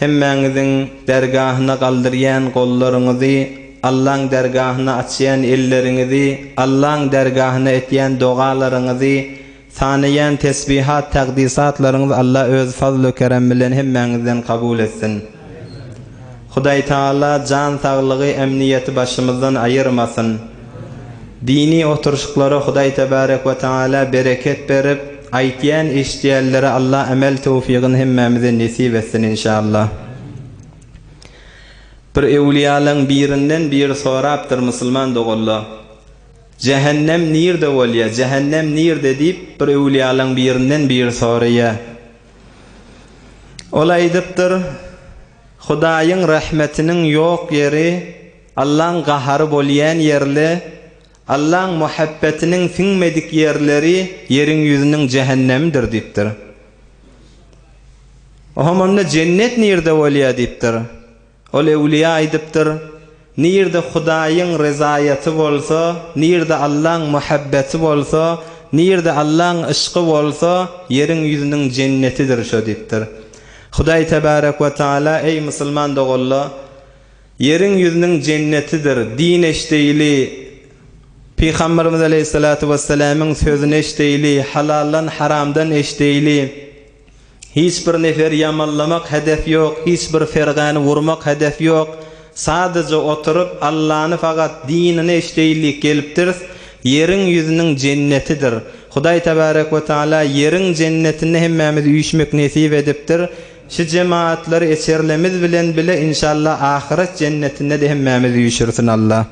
Hemmäňiziň dergahyna galdyrýan gollaryňyzy, Allaň dergahyna açýan elleriňizi, Allaň dergahyna etýän dogalaryňyzy, sanaýan tesbihat, takdysatlaryňyzy Alla öz fazl-u kerem bilen hemmäňizden kabul etsin. Hudaýtagala jan saglygy, emniýeti başymyzdan aýyrmasyn. Dini oturyşyklara Hudaý Tebarek we Tagala bereket berip, aýtýan eşidýänlere Allah emel töwfigini hemmämize nesip etsin inşallah. Bir öwliýalaň birinden biri sorapdyr musulman doganla, Jähennem nirde bolýa, jähennem nirde diýip bir öwliýalaň birinden biri soraýa. Ol aýdypdyr. Hudaýyň rahmetiniň ýok ýeri Allaň gahary bolýan ýerle, Allaň muhabbetiniň siňmedik ýerleri ýeriň ýüzüniň jähennemidir diýipdir. Ohom onda jennet nirde bolýa diýipdir. Ol ewliýa aýdypdyr, Nirde Hudaýyň ryzaýaty bolsa, nirde Allaň muhabbeti bolsa, nirde Allaň yşky bolsa, ýeriň ýüzüniň jennetidir şo diýipdir. Hudaý tebärek we taala, eý musulman doganla, ýeriň ýüzüniň jennetidir, din eşdeýli, Pygamberimiz aleýhissalatu wesselamyň sözüni eşdeýli, halaldan haramdan eşdeýli, Hiç bir nefer ýamanlamak hedef ýok, hiç bir fergäni urmak hedef ýok, sadaja oturyp Allany fakat dinine işleýillik gelipdiris, ýeriň ýüzüniň jennetidir, Hudaý Tebarek we Taala ýeriň jennetinde hemmämiz üýşmek nesip edipdir, şu jemaatlar eçerlemiz bilen bile inşalla ahyret jennetinde-de hemmämiz üýşürsin Alla.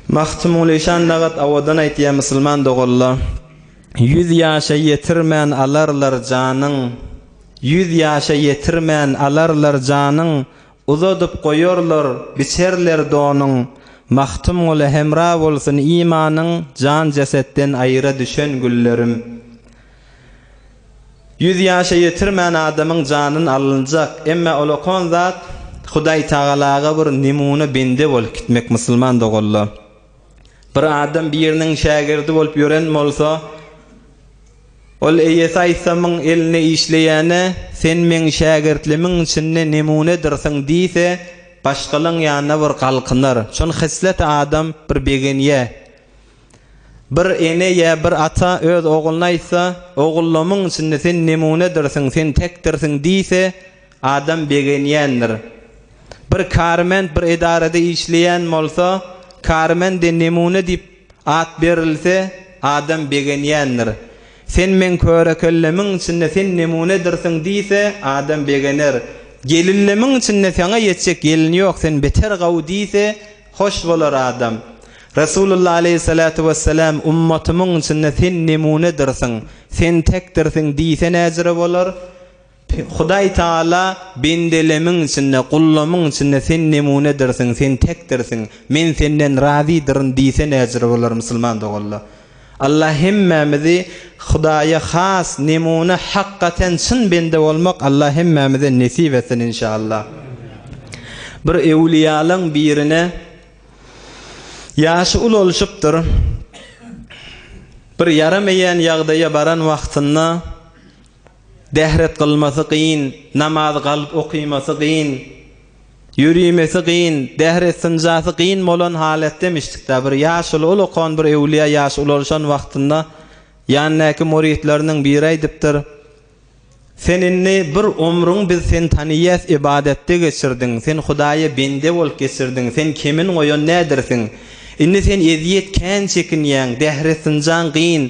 Magtymguly şan nagat awadan aýtýa musulman doganla. Ýüz ýaşa ýetirmän alarlar janyň, Ýüz ýaşa ýetirmän alarlar janyň, Uzadyp goýarlar, biçerler donuň. Magtymgula hemra bolsun imanyň, Jan jesetden aýra düşen günlerim. Ýüz ýaşa ýetirmän adamyň janyn alynjak, emme ol okan zat Hudaýtagalaga bir nemune bende bolup gitmek musulman doganlar. Bir adam biriniň şägirdi bolup ýören bolsa, ol eýesi aýsamyň elinde işleýäne, Sen meň şägirtlimiň içinde nemunedirsiň diýse, başgalaň ýanyna bir galkynar. Şol heslete adam bir begenýä. Bir ene ýa bir ata öz ogluna aýtsa, Ogullymyň içinde sen nemunedirsiň, sen tekdirsiň diýse, Adam begenýändir. Bir kärment bir edarada işleýän bolsa, kärmende nemune diýip at berilse, adam begenýändir. Sen meň köre-kellemiň içinde sen nemunedirsiň diýse, adam begener. Gelillemiň içinde saňa ýetjek gelin ýok, sen beter gawy diýse, hoş bolar adam. Resulullah aleýhissalatu wessalam ummatymyň içinde sen nemunedirsiň, sen tekdirsiň diýse näjüre bolar? Hudaý Tagala, Bendelemiň içinde, gullamyň içinde sen nemunedirsiň, sen tekdirsiň, men senden razydyryn diýse näjüre bolar musulman doganlar? Allah hemmämizi Hudaýa has nemune, hakgaten çyn bende bolmak Allah hemmämize nesip etsin inşallah. Bir öwlüýalaň birine ýaşy ulalşypdyr. Bir ýaramaýan ýagdaýa baran wagtynda, Dehret gylmasy gyn, namaz galyp okymasy gyn, ýörimesi gyn, dehret synjasy gyn bolan halat demişdikdä, bir ýaşuly ol okan bir öwlüýä ýaş ulalşan wagtynda ýanyndaky muritleriniň biri aýdypdyr, Sen indi bir omruň biz seni taniýäs ybadatda geçirdiň, sen Hudaýa bende bolup geçirdiň, sen kemin goýan nädersiň, indi sen ezýet kän çekinýäň, dehret synjaň gyn,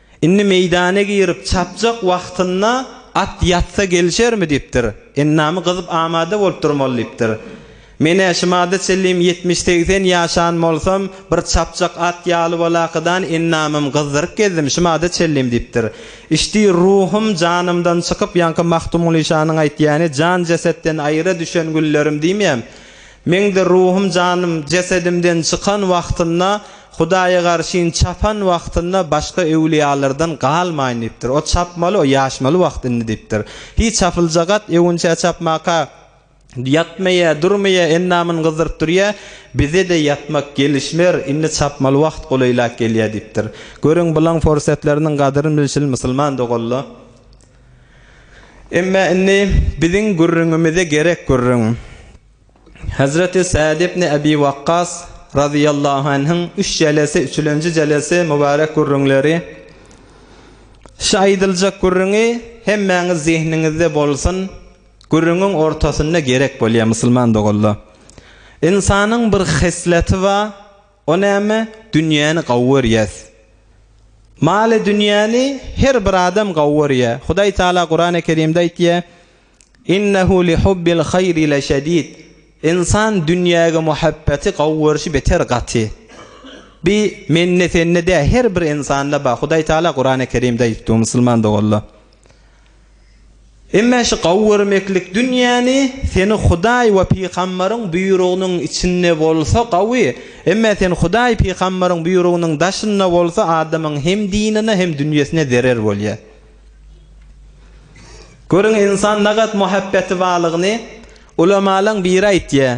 Indi meýdana girip çapjak wagtynda at ýatsa gelişermi diýipdir. Endamy gyzyp amada bolup durmaly diýipdir. Men-ä şumada çenlem ýetmiş-segsen ýaşan bolsam, bir çapjak at ýaly bolakydan endamym gyzdyryp gezdim şumada çenlem diýipdir. Işdi, ruhum janymdan çykyp ýaňky Magtymguly şanyň aýtýany Jan jesetden aýra düşen günlerim diýmeýäm. Meňdir ruhum janym jesedimden çykan wagtynda, Hudaýa garşyn çapan wagtynda başga öwlüýalardan galmaýyn diýipdir. O çapmaly, o ýaşmaly wagt indi diýipdir. Hiý, çapyljagat, öwünçä çapmaka ýatmaýa, durmaýa, endamyny gyzdyryp durýa, bize-de ýatmak gelişmer, indi çapmaly wagt golaýlap gelýä diýipdir. Görüň, bulaň forsetleriniň gadyryny bilşili, musulman doganla. Emma indi biziň gürrüňimize gerek gürrüň. Hezreti Sad ibn Abi Wakkas razyýallahu anhyň üç jelesi, üçülenji jelesi mübarek gürrüňleri. Şu aýdyljak gürrüňi hemmäňiz zehniňizde bolsun, gürrüňiň ortasynda gerek bolýar musulman doganlar. Ynsanyň bir hesleti bar, O näme, dünýäni gawy görýäs. Maly dünýäni her bir adam gawy görýä. Hudaý Taala Kurany Kerimde aýtýa, Innehu li hubbil haýri leşedid. Ynsan dünýäge muhabbeti, gawy görşi beter gaty. Bi mende sende dä, her bir ynsanda bar. Hudaý Taala Kurany Kerimde aýtdy, musulman doganlar. Emma şu gowy görmeklik dünýäni seni Hudaý we pygambaryň buýrugynyň içinde bolsa gowy, emma sen Hudaý pygambaryň buýrugynyň daşynda bolsa adamyň hem dinine hem dünýesine zerer bolýar. Görüň insan nagat muhabbeti balygyny, ulamalaň biri aýtýar.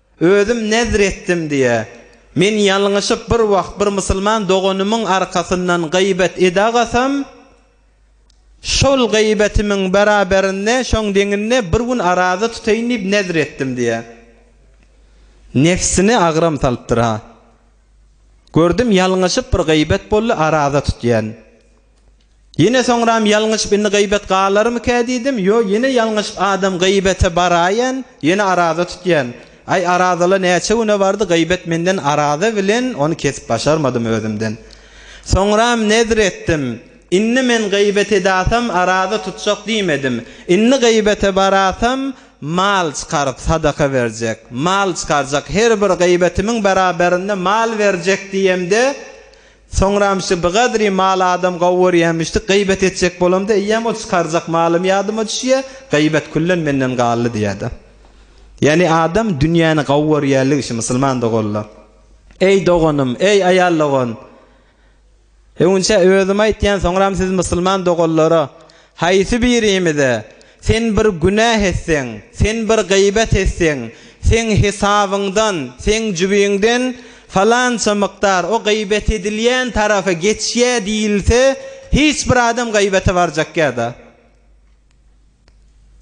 Özüm nezr etdim diýä. Men ýalňyşyp bir wagt bir musulman doganymyň arkasyndan gybet edagasam, şol gybetimiň beraberinde, şoň deňinde bir gün araza tutaýyn diýip nezr etdim diýä. Nefsine agram salypdyr-ha. Gördüm ýalňyşyp bir gybet boldy, araza tutýan. Ýene soňram ýalňyşyp indi gybet galarmyka diýdim, ýo ýene ýalňyşyp adam gybete baraýan, ýene araza tutýan. Aý arazala näçe güne bardy gybet menden araza bilen ony kesip başarmadym özümden. Soňram nezr etdim, indi men gybet edasam araza tutjak diýmedim. Indi gybete barasam mal çykaryp sadaka berjek, mal çykarjak her bir gybetimiň beraberinde mal berjek diýemde Soňram şu bigadry maly adam gowy görýämişdi, gybet etjek bolamda eýýäm ol çykarjak malym ýadyma düşýä, gybet küllen menden galdy diýäda. Ýani adam dünýäni gowy görýärligi şu musulman doganlar. Eý doganym, eý aýal dogan! Öňinçä özüm aýtýan soňram siz musulman doganlara Haýsy birimize, Sen bir günäh etseň, sen bir gybet etseň, seň hesabyňdan, seň jübiňden falança mukdar o gybet edilýän tarapa geçýä diýilse, hiç bir adam gybete barjakýa-da.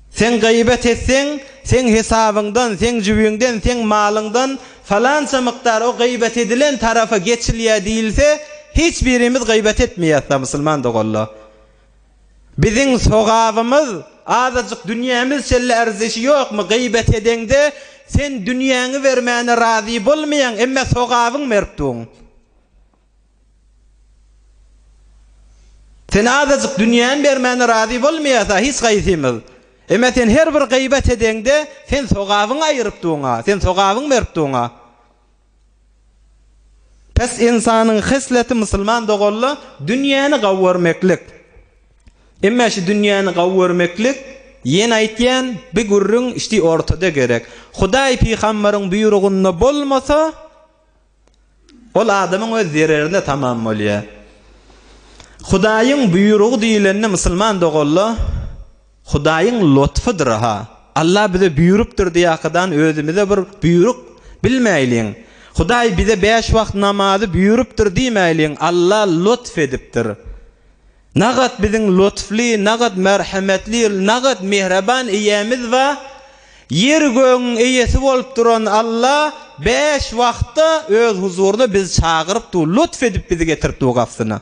Sen gybet etseň, seň hesabyňdan, seň jübiňden, seň malyňdan falança mukdar o gybet edilen tarapa geçilýä diýilse, hiç birimiz gybet etmeýäs-da, musulman doganlar. Biziň sogabymyz azajyk dünýämiz şeýle arzeşi ýokmy geýbet edeňde sen dünýäňi bermäne razy bolmaýaň emme sogabyň mertduň sen azajyk dünýäni bermäne razy bolmaýasa hiç gaýsymyz emme sen her bir geýbet edeňde sen sogabyňy aýyrypduňa sen sogabyň mertduňa. Pes ynsanyň hesleti musulman dogalla dünýäni gawy görmeklik. Emme şu dünýäni gawy görmeklik ýene aýtýan bi gürrüň şti ortada gerek. Hudaý pygambaryň buýrugynda bolmasa ol adamyň öz zererine tamam bolýar. Hudaýyň buýrugy diýilende musulman dogalla Hudaýyň lotfudyr-ha. Alla bize buýrupdyr diýýäkadan özümize bir buýruk bilmäýliň. Hudaý bize bäş wagt namazy buýrupdyr diýmäýliň, Alla lotf edipdir. Nagat biziň lotfly, nagat merhemetli, nagat mihreban Eýemiz ba, ýer-gögüň Eýesi bolup duran Alla bäş wagtda Öz huzuryna bizi çagyrypdy, lotf edip bizi getiripdi bu gapsyna.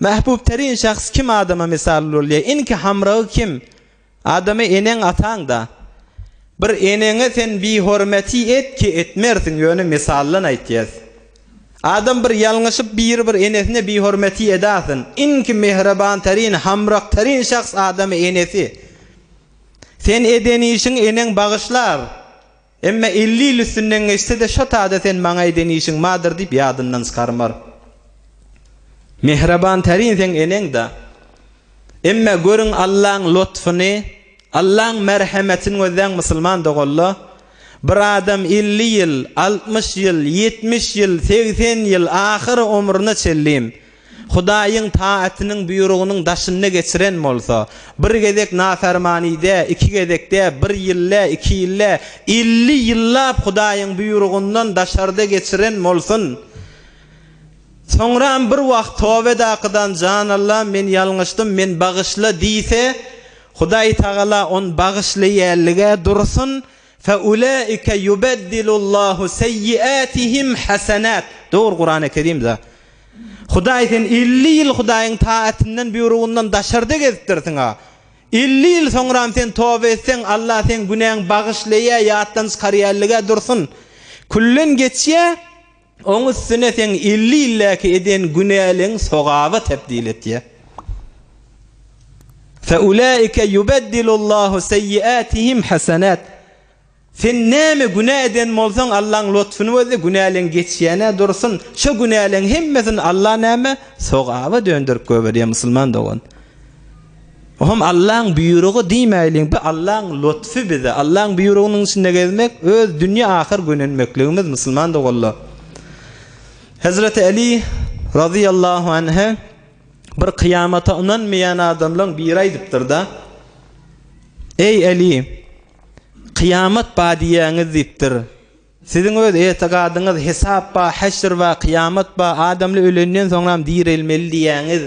Mähbub terin şahs kim adama mysal bolýa inki hamragy kim adamy eneň ataňda bir eneňe sen bihormeti et ki etmersiň ýöne mysaldan aýtýas adam bir ýalňyşyp biri bir enesine bihormeti edasyn inki mehreban terin hamrak terin şahs adamy enesi sen eden işiň eneň bagyşlar. Emma elli ýyl üstünden geçse-de şo tada sen maňa eden işiň bardyr diýip ýadyndan çykarmar. Mähriban tärin seň eneň-da. Emma görüň Allaň lotfuny, Allaň merhemetini gözläň musulman doganla. Bir adam elli ýyl, altmyş ýyl, ýetmiş ýyl, segsen ýyl ahyry omruna çenli Hudaýyň taatynyň buýrugynyň daşynda geçiren bolsa, bir gezek nafermanide, iki gezekde, bir ýylda, iki ýylda, elli ýyllap Hudaýyň buýrugyndan daşarda geçiren bolsun. Soňram bir wagt toba edakydan Jan Allam men ýalňyşdym, men bagyşla diýse, Hudaýtagala on bagyşlaýalyga dursun, Fe ulaike yubeddilullahu seyyiatihim hasanat. Dogry Kurany Kerimde Hudaý sen elli ýyl Hudaýyň taatyndan, buýrugyndan daşarda gezipdirsiň-a. Elli ýyl soňram sen toba etseň, Allah seň günäň bagyşlaýa, ýatdan çykarýa ellige dursun. Külden geçýä. Oň üstüne seň elli ýyldäki eden günäleň sogaba tebdil etýär. Feulaike yubeddilullahu seýyiatihim hasanat. Sen näme günä eden bolsaň, Allaň lotfuny boldy, günäleň geçýän-ä dursun. Şo günäleň hemmesini Allah näme? Sogaba dönderip goýberýär, musulman dogan. Bu hem Allaň buýrugy diýmäýliň, bu Allaň lutfy bize. Allaň buýrugynyň içinde gezmek, öz dünýe ahyr gönenmekligimiz musulman doganlar. Hezreti Aly razyýallahu anha bir kyýamata ynanmaýan adamlaň biri aýdypdyr-da, Eý Aly, kyýamat bar diýýäňiz diýipdir. Siziň öz etigadyňyz, hesap bar, heşr bar, kyýamat bar, adamly ölenden soňram direlmeli diýýäňiz.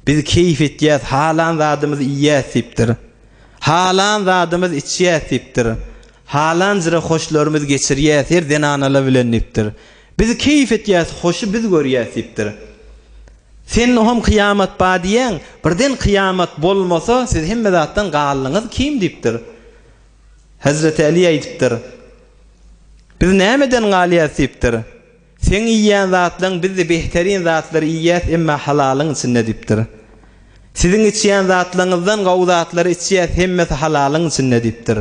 Biz keýp etýäs, halan zadymyzy iýýäs diýipdir. Halan zadymyz içýäs diýipdir. Halanjra hoşlarymyz geçirýäs her zenanala bilen diýipdir. Biz keýp etýäs, hoşy biz görýäs diýipdir. Sen hom kyýamat bar diýýäň, birden kyýamat bolmasa siz hemme zatdan galdyňyz kim diýipdir. Hezreti Äli aýdypdyr, Biz nämeden galýas diýipdir. Seň iýýän zatlaň bizde behterin zatlary iýýäs emma halalyň içinde diýipdir. Siziň içýän zatlaňyzdan gowy zatlary içýäs hemmesi halalyň içinde diýipdir.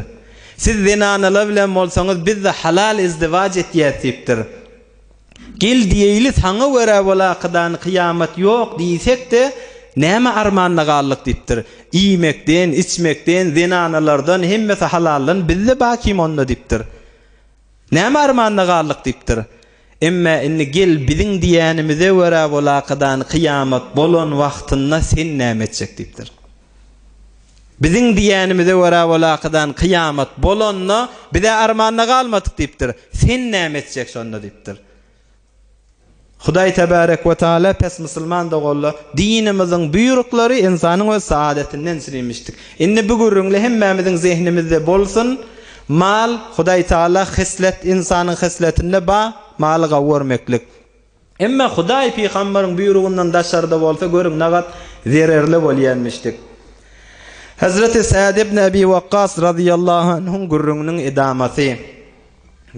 Siz zenanalar bilen bolsaňyz bizde halal izdiwac etýäs diýipdir. Gel diýeýli saňa görä bol akydan kyýamat ýok diýsek-de näme armanda galdyk diýipdir. Iýmekden, içmekden, zenanalardan hemmesi halaldan bizde ba kim onda diýipdir. Näme armanda galdyk diýipdir. Emma indi gel biziň diýenimize görä bol akydan kyýamat bolan wagtynda sen näme etjek diýipdir. Biziň diýýänimize görä walakydan kyýamat bolanda biz-ä armanda galmadyk diýipdir. Sen näme etjek şonda diýipdir. Hudaý Tebarek we Taala pes musulman doganlar dinimiziň buýruklary ynsanyň öz saadetinden sürimişdik. Indi bu gürrüňle hemmämiziň zehnimizde bolsun, mal, Hudaý Taala heslet, ynsanyň hesletinde bar, maly gawy görmeklik. Emma Hudaý pygamberiň buýrugyndan daşarda bolsa görüň nagat zererli bolýanmişdik. Hazreti Sad ibn Abi Wakkas razyýallahu anhuň gürrüňiniň edamasy.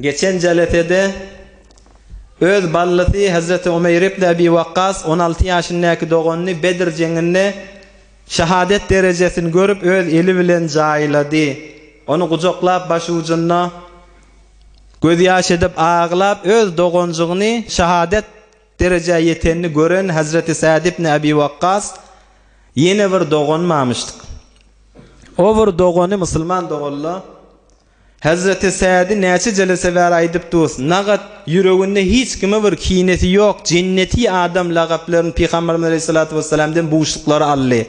Geçen jelesede öz ballysy Hazreti Umeýr ibn Abi Wakkas on alty ýaşyndäki doganyny Bedr jeňinde şahadet derejesini görüp öz eli bilen jaýlady. Ony gujaklap başujunda. Gözýaş edip aglap öz doganjygyny şahadat derejä ýetenini gören Hazreti Sad ibn Abi Wakkas ýene bir doganymy amyşdyk. O bir dogany musulman doganla Hazreti Sady näçe jelese bäri aýdyp durus, nagat ýüreginde hiç kime bir kinesi ýok, jenneti adam lagaplaryn Pygamberimiz Aleyhissalatu Vesselamdan buşluklar aldy.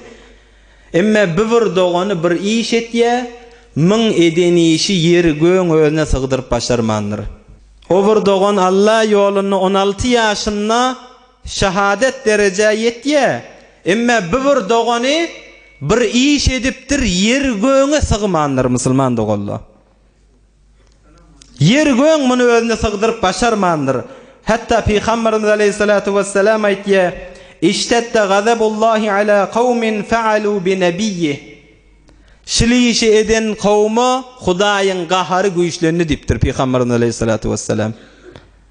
Emme bi bir dogany bir iş etýä, myň eden işi ýeri göň özüne sygdyryp başarmandyr. O bir dogan Alla ýolunda on alty ýaşynda şahadat derejä ýetýä, emme bi bir dogany bir iş edipdir ýeri göňe sygmandyr, musulman doganlar. Ýeri-göň muny özüne sygdyryp başarmandyr. Hatda Pygamberimiz aleýhissalatu wessalam aýtýar, Iştedde gazabullahi ala kawmin fa'alu bi nebiyyi. Şil işi eden kawuma Hudaýyň gahary güýçlendi diýipdir Pygamberimiz aleýhissalatu wessalam.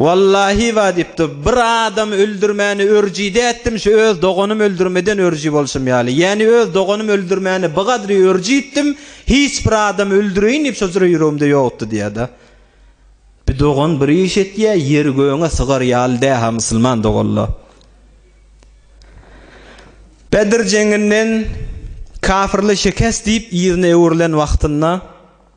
Wallahi ba diýipdi, bir adam öldürmäni örjide etdim, şu öz doganym öldürmeden örji bolşum ýaly. Ýäni öz doganym öldürmäni bu gadry örji etdim, hiç bir adam öldüreýin diýip şo jyra ýüregimde ýokdy diýýärda. Bir dogan bir iş etýä, ýeri göňe sygar ýaly dä-ha musulman doganla. Bedr jeňinden kafirli şikes diýip yzyna öwrülen wagtynda,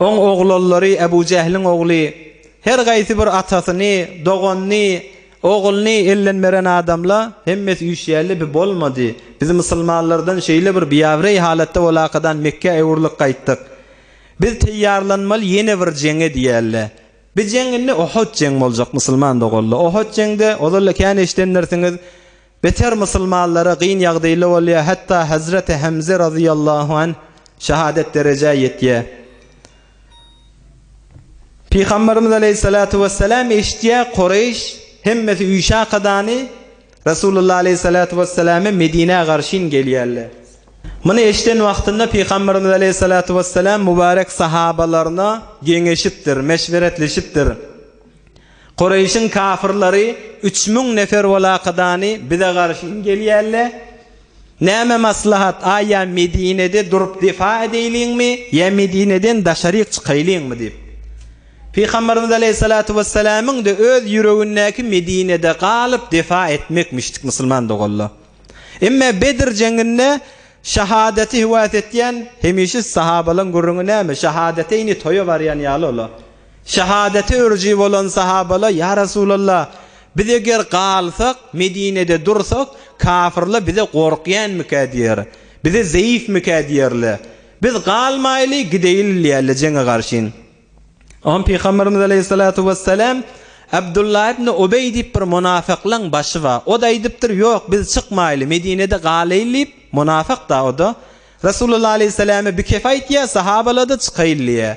Oň oglallary Ebu Jähliň ogly her gaýsy bir atasyny, doganyny, ogluny elden beren adamla hemmesi üýşýärle bi bolmady. Biz musulmanlardan şeýle bir biabrey halatda bolakadan Mekgä öwrülip gaýtdyk. Biz teýýarlanmaly ýene bir jeňe diýälle. Bi jeň indi Ohut jeň boljak musulman doganla. Ohut jeňde ozalda kän eşidendirsiňiz. Beter musulmanlara gyn ýagdyly bolýar hatda hazreti Hemze razyýallahu anh şahadet derejä ýetýär. Pygamberimiz aleýhissalatu wessalam eşitýär Koreýş hemmesi üşä kadany Rasulullah aleýhissalatu wessalamä Medinä garşyn gelýärler. Muny eşiden wagtynda Pygamberimiz aleýhissalatu wessalam mubarek sahabalaryna geňeşipdir, meşweretleşipdir. Kureýşiň kafyrlary üç müň nefer bolakydany bize garşyn gelýälle. Näme maslahat, aý ýa Medinede durup defa edeýliňmi, ýa Medineden daşaryk çykaýlyňmy diýip. Pygamberimiz aleýhissalatu wessalamyň-da öz ýüregindäki Medinede galyp defa etmekmişdik musulman doganlar. Emma Bedr jeňinde şahadaty höwes etýän hemişe sahabalaň gürrüňi näme, şahadateýni toýa barýan ýaly olar. Şahadata örüji bolan sahabala, Ýa Resulalla, biz eger galsak, Medinede dursak, kafirle bize gorkýänmikä diýer, bize zeýifmikä diýerle. Biz galmaýly, gideýli diýerle jeňe garşyn. Oňa Pygamberimiz aleýhissalatu wessalam, Abdullah ibn Ubeý diýip bir munafyklaň başy bar. O-da aýdypdyr, Ýok, biz çykmaýly, Medinede galaýly diýip, munafyk-da o-da. Resulalla aleýhissalama bikef aýtýar, sahabala-da çykaýly diýýär.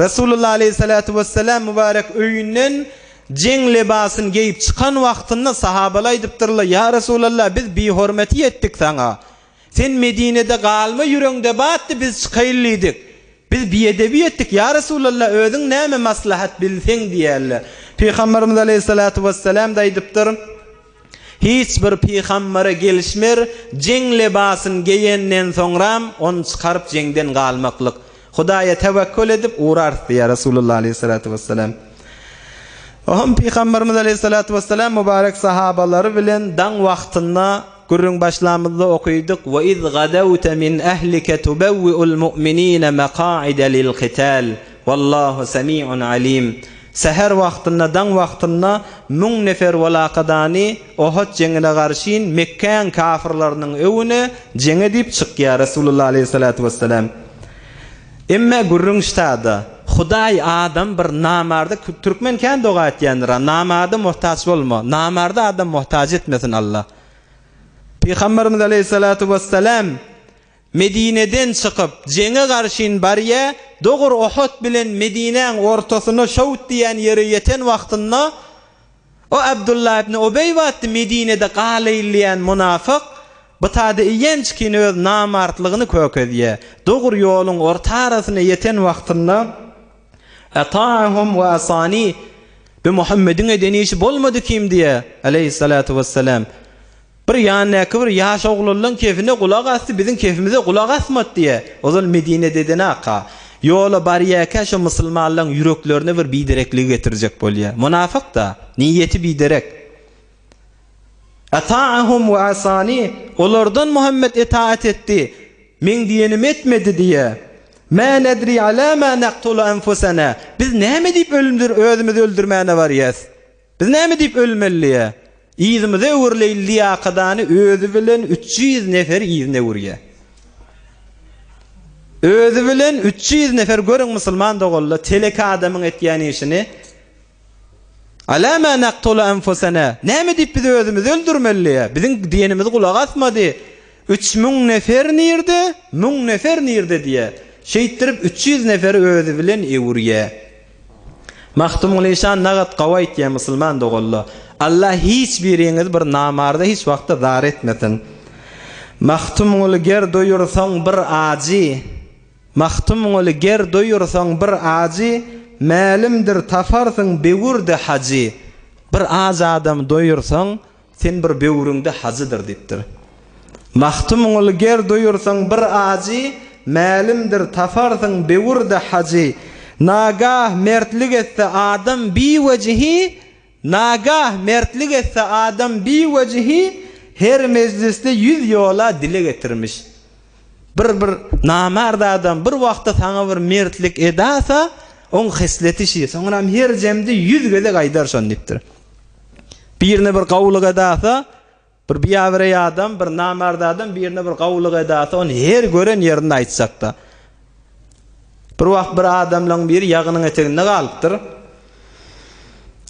Resulullah aleýhissalatu wessalam mübarek öýünden jeň lebasyny geýip çykan wagtynda sahabalar aýdypdyrlar, Ýa Resulallah, biz bihormaty etdik saňa. Sen Medinede galma ýüregiňde batdy, biz çykaýyl diýdik. Biz biedebi etdik, ýa Resulallah, özüň näme maslahat bilseň diýerler. Pygamberimiz aleýhissalatu wessalam-da aýdypdyr. Hiç bir pygambere gelişmer, jeň lebasyn geýenden soňram, ony çykaryp jeňden galmaklyk. Hudaýa tewekgül edip urarys diýýär Resulullah aleýhissalatu wessalam. Oňam pygamberimiz aleýhissalatu wessalam mübarek sahabalary bilen daň wagtynda gürrüň başlamyzda okydyk, Ve iz gadawte min ehlike tubewwi'ul mu'minine meka'ide lil-kital. Wallahu semiun alim. Säher wagtynda daň wagtynda müň nefer walakadany Ohod jeňine garşyn Mekkäň kafyrlarynyň öwüne jeň edip çykýar Resulullah aleýhissalatu wessalam. Emme gürrüň ştada, Hudaý adam bir namarda türkmen kän doga etýändirä, namarda mohtaç bolma, namarda adam mohtaç etmesin Allah. Pygamberimiz aleýhissalatu wessalam Medineden çykyp, jeňe garşyn barýa, dogur Uhud bilen Medinäň ortasyna şowt diýen ýere ýeten wagtynda, o Abdullah ibn Ubeý batdy Medinede galaýylýan munafyk, btada iýenç kin öz namartlygyny kökezýä, dogur ýoluň orta arasyna ýeten wagtynda, Ata'ahum we asani, bi Muhammediň eden işi bolmady kim diýä, aleýhis salatu wes selam. Bir ýandaky bir ýaş oglanlaň kefine gulak asdy, biziň kefimize gulak asmady diýýä. Ozal Medine dedenaka, ýola barýarkä şo musulmanlaň ýüreklerine bir biderekligi getirjek bolýa. Munafyk-da, niýeti biderek. Ata'ahum we asani, olardan Muhammet etaat etdi, meň diýenimi etmedi diýýä. Ma nedri ala ma naktulu anfusana, biz näme diýip ölümdir özümizi öldürmäne barýas. Biz näme diýip ölmeliä? Yzymyzy öwürleýin liýakadany özi bilen üç ýüz nefer yzyny öwürýä. Özi bilen üç ýüz nefer görüň musulman doganlar teleki adamyň etýän işini Ala ma naqtulu anfusana näme diýip biz özümizi öldürmeliä? Biziň diýenimizi gulak asmady. Üç müň nefer nirde? Müň nefer nirde diýä. Şeýtdirip üç ýüz neferi özi bilen öwürýä. Magtymguly şan nagat gawy aýtýa musulman dogalla. Alla hiç biriňizi bir namarda hiç wagtda zar etmesin. Magtymguly ger doýursaň bir ajy Magtymguly ger doýursaň bir ajy Mälimdir taparsyň bewürdi hajy Bir aç adamy doýursaň Sen bir böwrüňde hajydyr diýipdir. Magtymguly Ger duýursaň bir ajy, Mälimdir, taparsyň böwürde hajy. Nagah mertlik etse adam biwejihi, Nagah mertlik etse adam biwejihi, Her mejlisde ýüz ýola dile getirmiş. Bir bir namart adam bir wagtda saňa bir mertlik edasa, oň hesleti şi, soňram her jemde ýüz gezek aýdar şony diýipdir. Birine bir gowulyk edasa, bir biabire adam, bir namart adam birine bir gowulyk edasa, ony her gören ýerinde aýtjakda. Bir wagt bir adamlaň biri ýagynyň eteginde galypdyr.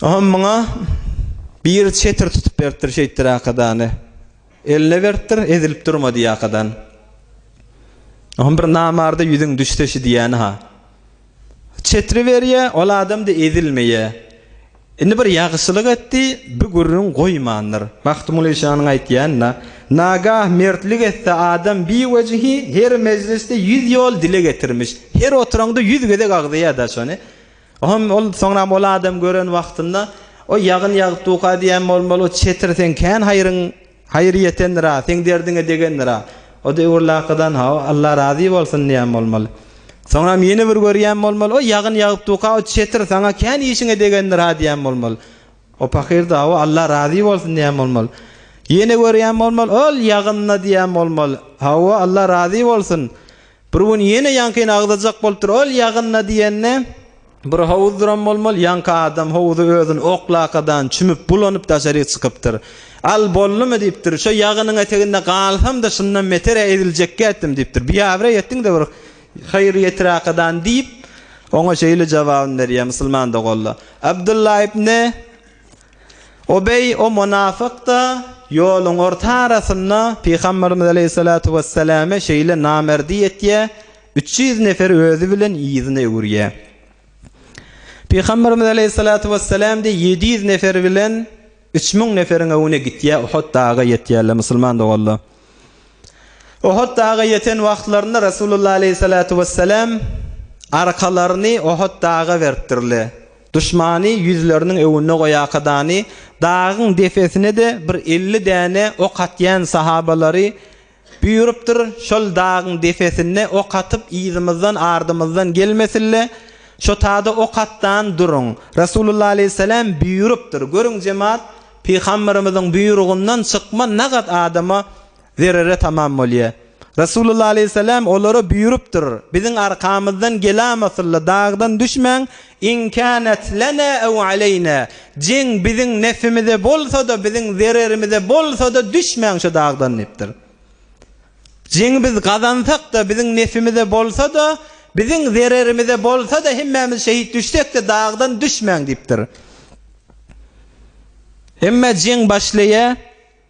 Oňam muňa biri çetir tutup beripdir şeýtdir akadany. Eline beripdir, ezilip durma diýýär akadan. Oňam bir namarda ýüzüň düşse şi diýýäni-ha. Çetiri berýä, ol adam-da ezilmeýä. Indi bir ýagşylyk etdi, bi gürrüň goýmandyr. Magtymguly şanyň aýtýanyna, Nagah mertlik etse adam biwejihi her mejlisde ýüz ýol dile getirmiş. Her oturanda ýüz gezek agzaýar-da şony. Oňam ol, soňram ol adam gören wagtynda, Oý, ýagyn ýagyp duka diýen bolmaly, çetir, seň kän haýryň Haýyr ýetendir-ä, seň derdiňe degendir-ä. O döwürlakydan, hawa, Alla razy bolsun diýen bolmaly. Soňram ýene bir görýän bolmaly, o ýagyn ýagypdyka, o çetir saňa kän işiňe degendir-ä diýen bolmaly. O pahyr-da, hawa, Alla razy bolsun diýen bolmaly. Ýene görýän bolmaly, ol ýagyn-da diýen bolmaly, hawa, Alla razy bolsun. Bir gün ýene ýaňkyny agzajak bolupdyr. Ol ýagynda diýende, bir howuz duran bolmaly. Ýaňky adam howuzy özüni oklakadan çümüp, bulanyp daşaryk çykypdyr. Al, boldumy? diýipdir. Şo ýagynyň eteginde galsam-da, şundan beter-ä eziljekkä etdim, diýipdir. Biabraý etdiň-de bir haýyr ýetirakadan, diýip, oňa şeýle jogabyny berýär musulman doganlar. Abdylla ibn. Ubeý o mynafyk-da ýoluň orta arasynda pygamberimiz aleýhissalatu wesselame şeýle namerdi etýär, üç ýüz nefer özi bilen yzyna öwürýär. Pygamberimiz aleýhissalatu wesselam diýýär, ýedi ýüz nefer bilen üç müň neferiň öňüne gitýär, Uhud daga ýetýärler, musulman doganlar. Uhud daga ýeten wagtlarynda Resulullah aleýhissalatu wesselam arkalaryny Uhud daga beripdirler. Duşmany ýüzleriniň öňünde goýakadany dagyň depesine-de bir elli däne ok atýan sahabalary buýrupdyr, şol dagyň depesinde ok atyp yzymyzdan, ardymyzdan gelmesinle, şo tada ok atdan duruň. Resulullah aleýhissalam buýrupdyr. Görüň jemat, Pygamberimiziň buýrugyndan çykma nagat adama Zerere tamam bolýar. Resulullah aleýhissalam olara buýrupdyr, Biziň arkamyzdan gelamasylly dagdan düşmäň, in kanat lana ew aleýna, jeň biziň nefimize bolsa-da, biziň zererimize bolsa-da düşmäň şu dagdan diýipdir. Jeňi biz gazansak-da, biziň nefimize bolsa-da, biziň zererimize bolsa-da, hemmämiz şehit düşsek-de dagdan düşmäň diýipdir. Emma jeň başlaýar,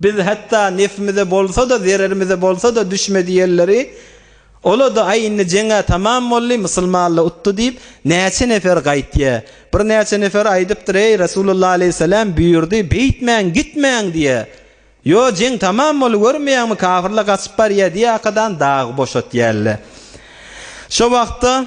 Biz hatda nefimize bolsa-da, zererimize bolsa-da düşmedi ýelleri, Ola-da, aý, indi jeň-ä tamam boldy, musulmanla utdy diýip, näçe nefer gaýtýa. Birnäçe nefer aýdypdyr, Eý, Resulullah aleýhissalam buýurdy, beýtmäň, gitmäň diýýä. Ýo, jeň tamam boldy, görmeýäňmi, kafirler gaçyp barýa diýýakadan dagy boşatýarlar. Şo wagtda.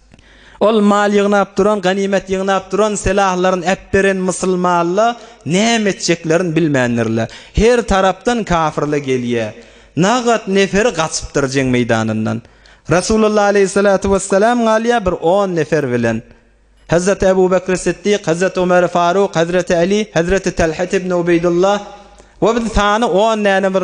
Ol mal ýygnap duran, ganymet ýygnap duran, sylahlaryny äpberen mysylmalla näme etjeklerini bilmändirler. Her tarapdan kafyrla gelýä. Nagat neferi gaçypdyr jeň meýdanyndan. Resulullah aleýhissalatu wessalam galýa bir on nefer bilen. Hazreti Ebu Bekri Siddik, Hazreti Omeri Faruk, Hazreti Aly, Hazreti Talhat ibn Ubeýdullah we bir sany on däne bir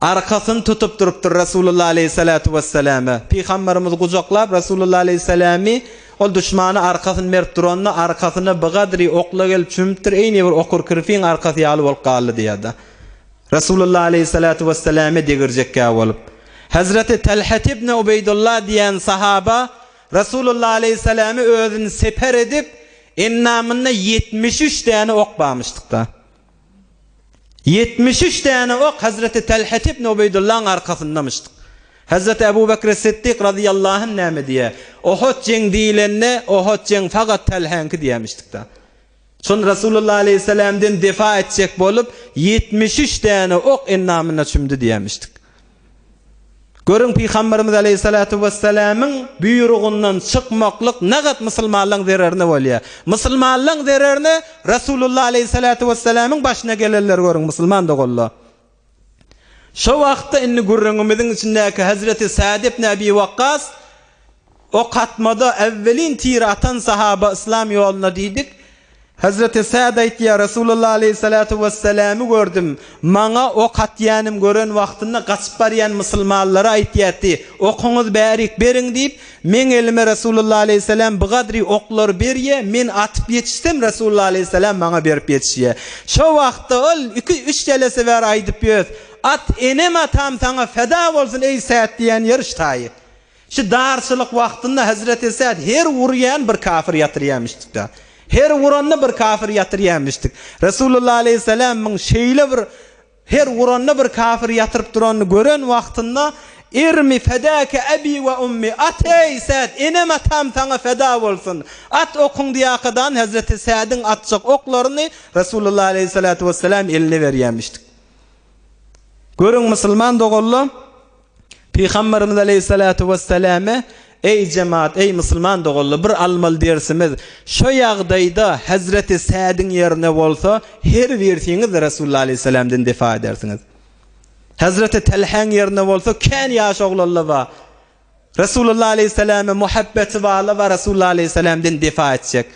Arkasyny tutup durupdyr Resulullah aleýhissalatu wessalame. Pygamberimiz gujaklap Resulullah aleýhissalamy ol duşmana arkasyny berip duranda arkasyna bigadri okla gelip çümüpdir eýni bir okur kirpiň arkasy ýaly bolup galdy diýada. Resulullah aleýhissalatu wessalame degirjekkä bolup. Hazreti Talhat ibn Ubeýdullah diýen sahaba Resulullah aleýhissalamy özüni seper edip endamynda ýetmiş üç däne ok bamyşdykda. Ýetmiş üç däne ok hezreti Telhet ibn Ubeýdullaň arkasyndamyşd. Hezreti Ebu Bekri Siddik razyýallahu anh näme diýýär? Ohut jeň diýilende, Ohut jeň fagat Telhäňki diýämişdik-dä. Şonda Resulullah aleýhissalamdan defa etjek bolup, ýetmiş üç däne ok endamyna çümdi diýämişdik. Görüň, Pygamberimiz aleýhissalatu wessalamyň buýrugyndan çykmaklyk nagat musulmanlaň zererine bolýar. Musulmanlaň zererine Resulullah aleýhissalatu wessalamyň başyna gelenleri görüň, musulman doganlar. Şo wagtda indi gürrüňimiziň içindäki Hazreti Sad ibn Abi Wakkas Ok atmada äwwelin tir atan sahaba yslam ýoluna diýdik. Hezreti Sad aýtýar, Resulullah aleýhissalatu wessalamy gördüm. Maňa ok atýanym gören wagtynda gaçyp barýan musulmanlara aýtýarty, Okuňyz bärik beriň diýip, meň elime Resulullah aleýhissalam bigadry oklary berýä, men atyp ýetişsem Resulullah aleýhissalam maňa berip ýetişýä. Şo wagtda ol iki, üç jelese bäri aýdyp ýös, At enem atam saňa feda bolsun eý Sad diýen ýeriş taýy. Şu darçylyk wagtynda Hezreti Sad her urýan bir kafir ýatyrýamyşdykda. Her uranda bir kafir ýatyrýamyşdyk. Resulullah aleýhissalamyň şeýle bir her uranda bir kafir ýatyryp duranyny gören wagtynda, Irmi fedake abi we ummi, at eý, Sad, enem-atam saňa feda bolsun! At okuň diýakadan Hezreti Sadyň atjak oklaryny Resulullah aleýhissalatu wessalam eline berýämişdik. Görüň musulman doganlar! Pygamberimiz aleýhissalatu wessalame, Eý jemaat, eý musulman doganlar, bir almaly dersimiz, şu ýagdaýda hezreti Sädiň ýerine bolsa, her birsiňiz Resulullah aleýhissalamdan defa edersiňiz. Hezreti Telhäň ýerine bolsa, kän ýaş oglanlar bar. Resulullah aleýhissalama muhabbeti barlar we Resulullah aleýhissalamdan defa etjek.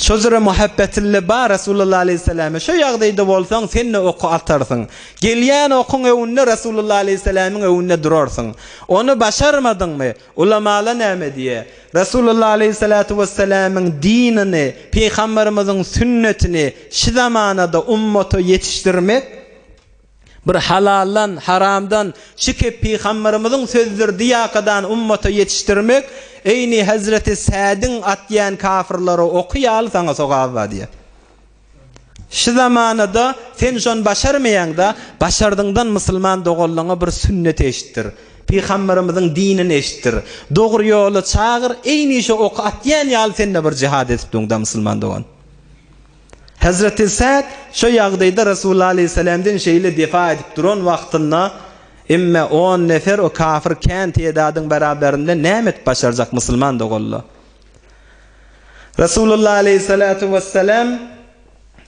Şojere Muhabbetille bar Resulullah aleyhisselame şo ýagdaýda bolsaň senne oky atarsyň. Gelýän okuň öwünde Resulullah aleyhisselamiň öwünde durarsyň. Ony başarmadyňmy? Ulamala näme diýe? Resulullah aleyhissalatu wesselamyň dinini, Pygamberimiziň sünnetini şi zamanada ummata ýetişdirmek, Bir halaldan, haramdan, çykyp pygamberimiziň sözdür diýakadan ummata ýetişdirmek, eýni hezreti Sädiň atýan kafirlary oky ýaly saňa sogaby bar diýýär. Şu zamanada sen şony başarmaýaňda, başardyňdan musulman doganlaňa bir sünneti eşitdir, pygamberimiziň dinini eşitdir, dogry ýola çagyr, eýni şu oky atýan ýaly sende bir jihad edip durňda musulman dogan. Hezreti Sa'd şu ýagdaýda Resulullah aleýhissalamdan şeýle defa edip duran wagtynda, Emme on nefer o kafir kän tedadyň beraberinde näme edip başarjak musulman doganlar? Resulullah aleýhissalatu wessalam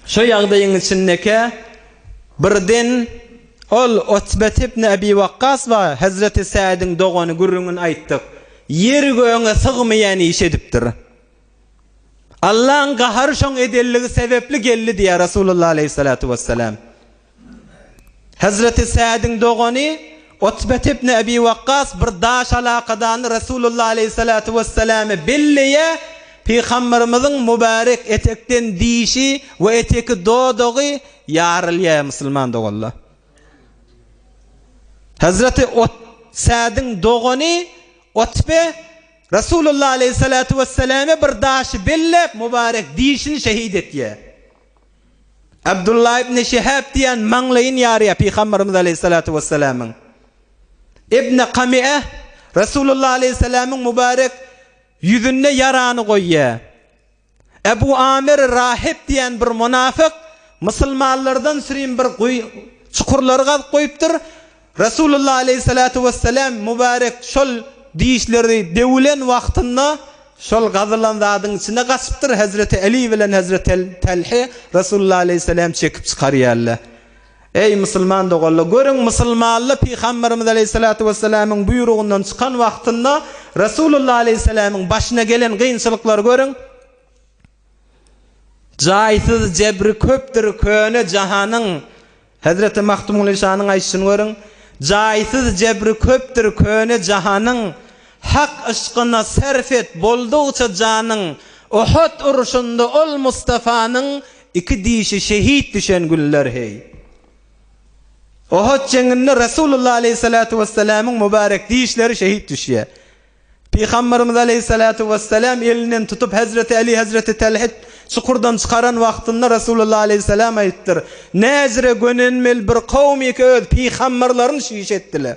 şu ýagdaýyň içindekä birden ol Utbet ibn Abi Wakkas we Hezreti Sa'dyň dogany gürrüňini aýtdyk. Ýeri göňe sygmaýan iş edipdir. Allaň gahary şoň edelligi sebepli geldi diýýär Resulullah aleýhissalatu wessalam. Hezreti Sädiň dogany Utbet ibn Ebi Wakkas bir daş alakadany Resulullah aleýhissalatu wessalama belleýär, Pygamberimiziň mubarek etekden dişi we eteki dodagy ýarylýar musulman doganlar. Hezreti Ot Sädiň dogany Utbe Resulullah aleýhissalatu wesselame bir daşy belläp, mubarek dişini şehit etýär. Abdullah ibn Şihab diýýän maňlaýyn ýarýar Pygamberimiz aleýhissalatu wessalamyň. Ibn Kami'e Resulullah aleýhissalamyň mubarek ýüzünde ýarany goýýar. Ebu Amir Rahip diýen bir munafyk musulmanlardan sürin bir guýy, çukurlary gazyp goýupdyr. Resulullah aleýhissalatu wesselam mübarek şol dişleri döwülen wagtynda şol gazylan zadyň içine gaçypdyr. Hezreti Aly bilen Hezreti Talhy Resulullah aleýhissalamy çekip çykarýarlar. Eý, musulman doganlar! Görüň, musulmanlar pygamberimiz aleýhissalatu wessalamyň buýrugyndan çykan wagtynda Resulullah aleýhissalamyň başyna gelen kynçylyklary görüň! Jaýsyz jebri köpdür köne jahanyň, Hezreti Magtymguly şanyň aýdyşyny görüň, Jaýsyz jebri köpdür köne jahanyň, Hak yşkyna serf et, boldugyça janyň, Uhud urşunda ol Mustafanyň, Iki dişi şehit düşen günler heý. Ohut jeňinde Resulullah aleýhissalatu wesselamyň mubarek dişleri şehit düşýär. Pygamberimiz aleýhissalatu wesselam elinden tutup Hezreti Aly Hezreti Talhit çukurdan çykaran wagtynda Resulullah aleýhissalam aýypdyr, Näzire gönenmeli bir kowmyk öz pygamberlerini şiş etdiler.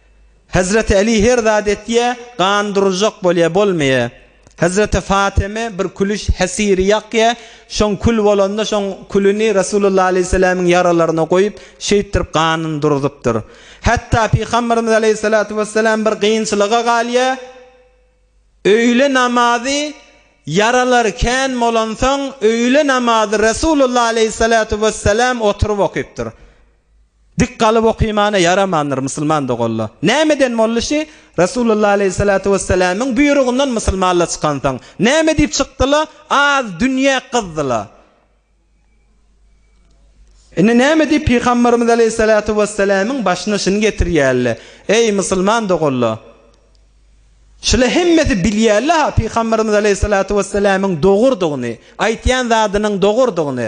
Hezreti Aly her zat etýä, gan duruzjak bolýa, bolmaýa. Hezreti Fatyma bir külüş hesiri ýakýa, şoň kül bolanda şoň külüni Resulullah aleýhissalamyň ýaralaryna goýup, şeýtdirip ganyny duruzypdyr. Hatda Pygamberimiz aleýhissalatu wessalam bir gynçylyga galýa, öýle namazy ýaralary kän bolansoň öýle namazy Resulullah aleýhissalatu wessalam oturyp okypdyr. Dik galyp okymana ýaramandyr, musulman doganla. Nämeden mollişi? Resulullah aleýhissalatu wessalamyň buýrugyndan musulmanla çykansoň. Näme diýip çykdyla? Az dünýä gyzdyla. Indi näme diýip pygamberimiz aleýhissalatu wessalamyň başyna şuny getirýälle? Eý musulman doganla. Şule hemmesi bilýälle ha pygamberimiz aleýhissalatu wessalamyň dogurdygyny, aýtýan zadynyň dogurdygyny.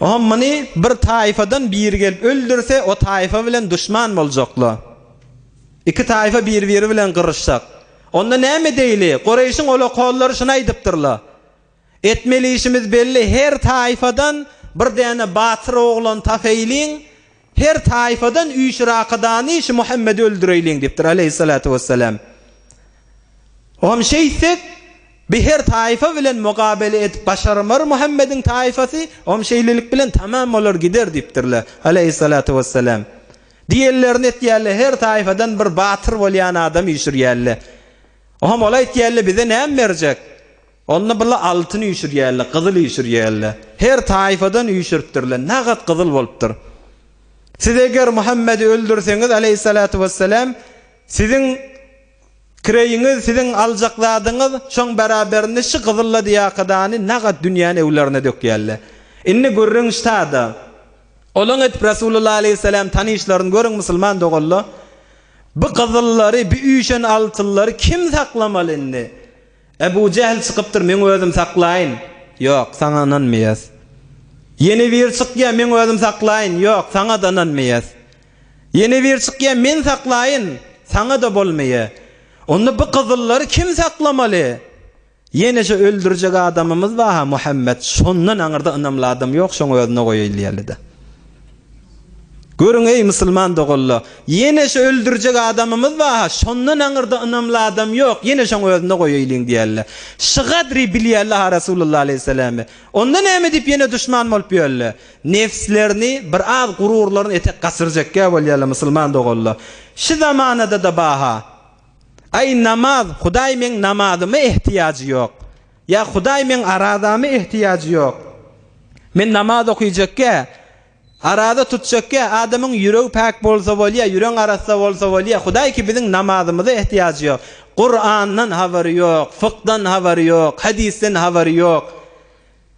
Oňa muny bir taýfadan biri gelip öldürse, o taýfa bilen duşman boljaklar. Iki taýfa bir-biri bilen gyryşjak. Onda näme edeýli? Kureýşiň olakollary şuny aýdypdyrlar. Etmeli işimiz belli, her taýfadan bir däne batyr oglan tapeýliň, Her taýfadan üç rakadany şu Muhammedi öldüreýliň diýipdir aleýhissalatu wessalam. Oňam şeýtsek, bi her taýfa bilen mugabele edip başarmar Muhammediň taýfasy, oňam şeýlelik bilen tamam bolar gider diýipdirler aleýhissalatu wessalam. Diýenlerini etýärler, her taýfadan bir batyr bolýan adam üýşürýärler. Oňam ol aýtýarlar, bize näme berjek? Onda bular altyn üýşürýärler, gyzyl üýşürýärler. Her taýfadan üýşüripdirler. Nagat gyzyl bolupdyr. Siz eger Muhammedi öldürseňiz, aleýhissalatu wessalam, siziň kireýiňiz, siziň aljak zadyňyz şoň bäraberinde şu gyzyl ladiýakadany nagat dünýäni öwlaryna dökýärler. Indi gürrüň ştada. Olaň edip Resulullah aleýhissalam tanyşlaryny görüň musulman doganlar. Bu gyzyllary, bu üýşen altynlary kim saklamaly indi? Ebu Jähl çykypdyr, meň özüm saklaýyn. Ýok, saňa ynanmaýas. Ýene biri çykýar, meň özüm saklaýyn. Ýok, saňa-da ynanmaýas. Ýene biri çykýar, men saklaýyn. Saňa-da bolmaýar. Onda bu gyzyllary kim saklamaly? Ýene-şo öldürjek adamymyz bar-ha, Muhammet. Şondan aňyrda ynamly adam ýok, şoňa özüne goýaýyn diýerli-dä. Görüň, eý, musulman doganlar, ýene şu öldürjek adamymyz bar-ha, şondan aňyrda ynamly adam ýok, ýene şoň özüne goýaýlyň diýerler. Şu gadry bilýärler-ha Resulullah aleýhissalamy. Onda näme diýip ýene duşman bolup ýörler? Nebslerini, bir az gururlaryny etek gaçyrjekkä bolýarlar, musulman doganlar. Şu zamanada-da bar-ha. Aý, namaz, Hudaý meň namazyma ehtiýajy ýok. Ýa Hudaý meň arazamy ehtiýajy ýok. Men namaz okyjekge, araza tutjekge adamyň ýüregi päk bolsa bolýa, ýüreň arassa bolsa bolýa. Hudaý ki biziň namazymyza ehtiýajy ýok. Kurandan habary ýok, fykdan habary ýok, hadisden habary ýok.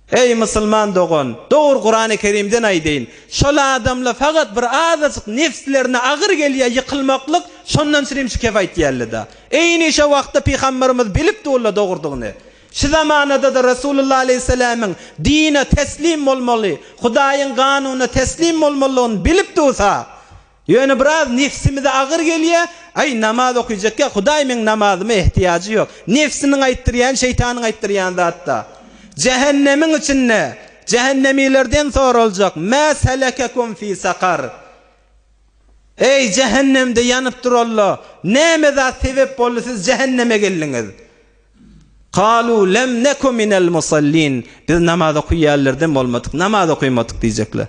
Eý musulman dogan, dogry Kurany Kerimden aýdaýyn. Şol adamla fakat bir azajyk nefslerine agyr gelýä ýykylmaklyk şondan sirim şikefaýt diýällida. Eýni şo wagtda Pygamberimiz bilip dulla dogurdygyny, şu zamanadada Resulullah aleýhissalamyň dine teslim bolmaly, Hudaýyň ganunyna teslim bolmalydygyny bilip dursa, ýöne biraz nefsimize agyr gelýä, aý namaz okyjakka Hudaý meň namazyma ehtiýajy ýok. Nefsiniň aýtdyrýany şeýtanyň aýtdyrýan zatda. Jähennemiň içinde jähennemilerden soraljak, Mä selekekum fi sakar? Eý, jähennemde ýanyp duralla, näme zat sebäp boldy siz jähenneme geldiňiz? Kalu lem neku minel musallin, biz namaz okuýanlardan bolmadyk, namaz okaýmadyk diýjekler.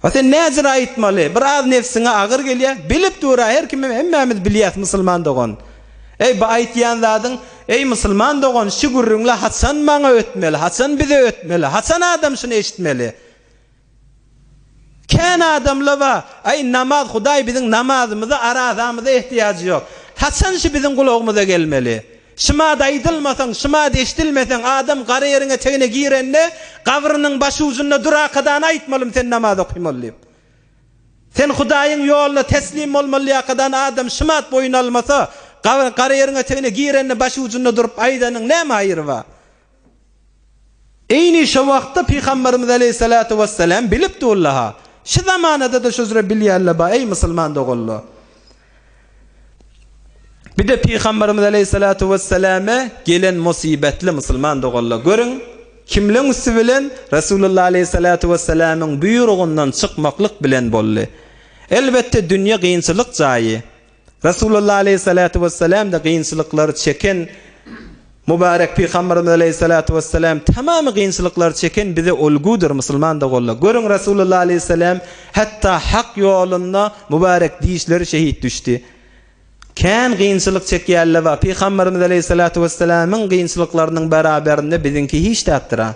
A sen näzir aýtmaly, bir az nebsiňe agyr gelýä, bilip dur-a, her kim hemmämiz bilýäs musulman dogan. Eý, bu aýtýan zadyň, eý musulman dogan, şu gürrüňle haçan maňa ötmeli, haçan bize ötmeli, haçan adam şuny eşitmeli? Kän adamlar bar, Aý, namaz, Hudaý biziň namazymyza, arazamyza ähtiýajy ýok. Haçan şu biziň gulagymyza gelmeli? Şymada aýdylmasaň, şymada eşidilmeseň, adam gara ýeriň etegine girende, gabrynyň başujunda durakadan aýtmalym sen namaz okymaly diýip. Sen Hudaýyň ýoluna teslim bolmalyýakadan adam şymat boýun almasa, gara ýeriň etegine girende başujunda durup aýdanyň näme haýry bar? Eýni şo wagtda Pygamberimiz aleýhissalatu wesselam bilip durlaha, şu zamanada-da şu üzre bilýänler bar, eý musulman doganlar! Bir-de Pygamberimiz aleýhissalatu wesselama gelen musybetli musulman doganlar, görüň, kimleň üsti bilen? Resulullah aleýhissalatu wesselamyň buýrugyndan çykmaklyk bilen boldy. Elbetde, dünýe kynçylyk jaýy. Resulullah aleýhissalatu wessalam-da gynçylyklary çeken Mubarek Pygamberimiz aleýhissalatu wessalam tamamy gynçylyklary çeken bize ulgudyr musulman doganlar. Görüň Resulullah aleýhissalam hatda hak ýolunda Mubarek dişleri şehit düşdi. Kän gynçylyk çekýärler we Pygamberimiz aleýhissalatu wessalamyň gynçylyklarynyň beraberinde biziňki hiç zatdyr-a.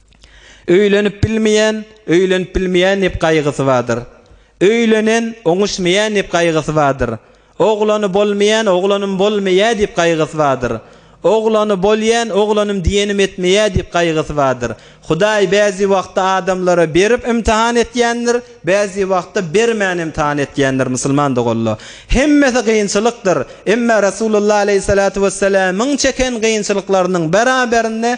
Öýlenip bilmeýän, öýlenip bilmeýän diýip gaýgysy bardyr. Öýlenen, oňuşmaýan diýip gaýgysy bardyr. Oglany bolmaýan, oglanym bolmaýar diýip gaýgysy bardyr. Oglany bolýan, oglanym diýenim etmeýär diýip gaýgysy bardyr. Hudaý bäzi wagtda adamlara berip ymtahan etýändir, bäzi wagtda bermän ymtahan etýändir, musulman doganlar. Hemmesi kynçylykdyr. Emma Resulullah aleýhissalatu wessalamyň çeken kynçylyklarynyň beraberinde,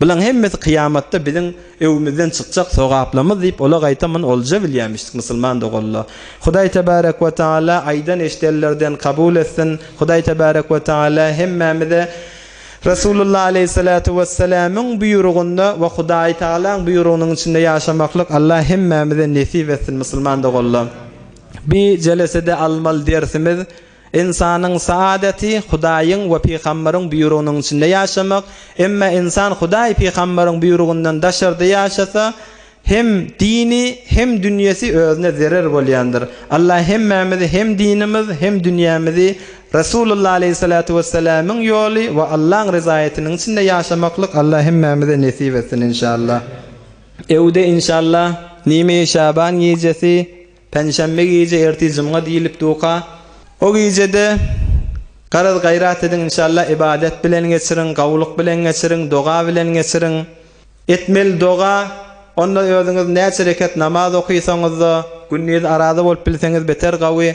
Bulaň hemmesi kyýamatda biziň öwümizden çykjak sogaplamyz diýip ola gaýta muny olja bilýämişdik musulman doganla. Hudaý tebarek we taala aýdan eşidenlerden kabul etsin, Hudaý tebarek we taala hemmämize Resulullah aleýhissalatu wessalamyň buýrugynda we Hudaý tagalaň buýrugynyň içinde ýaşamaklyk Allah hemmämize nesip etsin musulman doganla. Bi jelesede almaly dersimiz. Ynsanyň saadeti, Hudaýyň we pygamberiň buýrugynyň içinde ýaşamak, emma ynsan Hudaý, pygamberiň buýrugyndan daşarda ýaşasa, hem dini, hem dünýesi özüne zerer bolýandyr. Allah hemmämizi hem dinimiz, hem dünýämizi Resulullah aleýhissalatu wessalamyň ýoly we Allaň ryzaýatynyň içinde ýaşamaklyk Allah hemmämize nesip etsin inşallah. Öwde inşallah nji Şaban gijesi Penşenbe gije ertir jumga diýilip duka. O gijede garaz gaýrat ediň inşallah ybadet bilen geçiriň gawulyk bilen geçiriň doga bilen geçiriň. Etmeli doga onda özüňiz näçe rekat namaz okysaňyzda gündiz araza bolup bilseňiz beter gawy.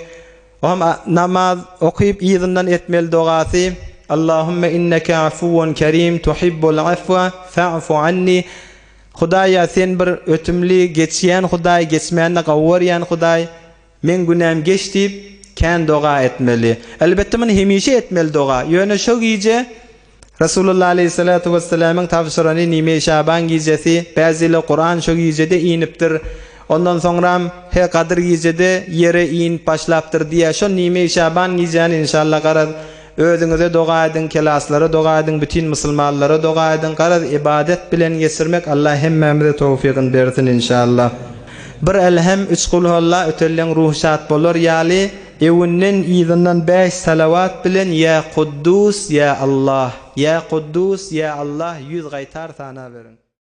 O hem namaz okyp yzyndan etmeli dogasy Allahümme inneke afuwun kerim tuhibbul afwa fa'fu anni. Hudaýa sen bir ötümli, geçýän Hudaý, geçmände gawy görýän Hudaý. Meň günäm geç diýip, kän doga etmeli. Elbetde muny hemişe etmeli doga. Ýöne şo gije Resulullah aleýhissalatu wessalamyň tabşyrany nime Şaban gijesi, bäziler Kuran şo gijede inipdir. Ondan soňram he Gadyr gijede ýere inip başlapdyr diýýär. Şo nime Şaban gijäni inşallah garaz. Özüňize doga ediň, kelaslara doga ediň, bütin musulmanlara doga ediň, garaz ybadet bilen geçirmek Allah hemmämize towfygyny bersin inşallah. Bir Elhem, üç Kulhuallah ötelleň ruhy şat bolar ýaly, öwünden yzyndan bäş salawat bilen Ýa Kuddus, Ýa Allah, Ýa Kuddus, Ýa Allah ýüz gaýtar sanaberiň.